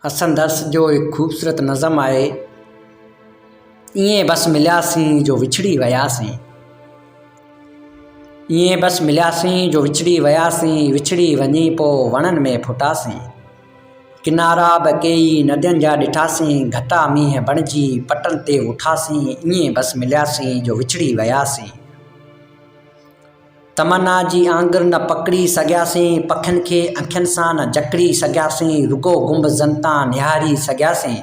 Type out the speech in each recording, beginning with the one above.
حسن درس جو هڪ خوبصورت نظم آهي، ائين بس ملياسين جو وڇڙي وياسين. ائين بس ملياسين جو وڇڙي وياسين، وڇڙي وڃي پوء وڻن ۾ ڦٽاسين. ڪنارا به ڪيئي ندين جا ڏٺاسين، گهٽا مينهن بڻجي پٽن تي وٺاسين، ائين بس ملياسين جو وڇڙي وياسين. تمنا جي آڱر نه پڪڙي سگهياسين، پکين کي اکين سان نه جڪڙي سگهياسين، رڳو گنبذن تان نهاري سگهياسين،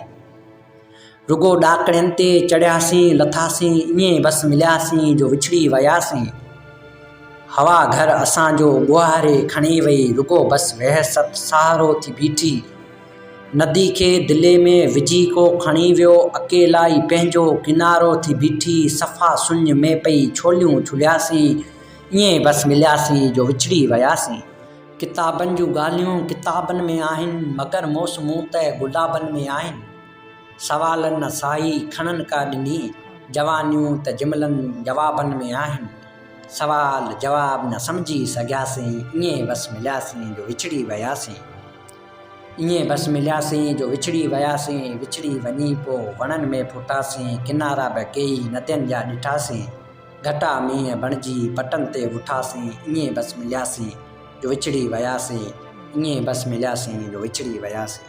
رڳو ڏاڪڻين تي چڙهياسين، لٿاسين، ائين بس ملياسين جو وڇڙي وياسين، هوا گهر اسان جو ٻوهاري کڻي وئي، رڳو بس وحشت سهارو ٿي بيٺي. ندي کي دلي ۾ وجهي ڪو کڻي ويو. اڪيلائي پنهنجو ڪنارو ٿي بيٺي، صفا سڃ ۾ پئي ڇوليون ڇولياسين. ائين بس ملياسين جو وڇڙي وياسين. ڪتابن جون ڳالهيون ڪتابن ۾ آهن، مگر موسمون ته گلابن ۾ آهن. سوالن نه ساهي کڻن ڪا ڏني، جوانيون ته جملن جوابن ۾ آهن. سوال جواب نه سمجهي سگهياسين، ائين بس ملياسين جو وڇڙي وياسين. ائين بس ملياسين جو وڇڙي وياسين، وڇڙي وڃي پوء وڻن ۾ ڦوٽاسين، ڪنارا به ڪيئي ندين جا ڏٺاسين، گهٽا مينهن بڻجي پٽن تي وٺاسين، ائين بس ملياسين جو وڇڙي وياسين، ائين بس ملياسين جو وڇڙي وياسين.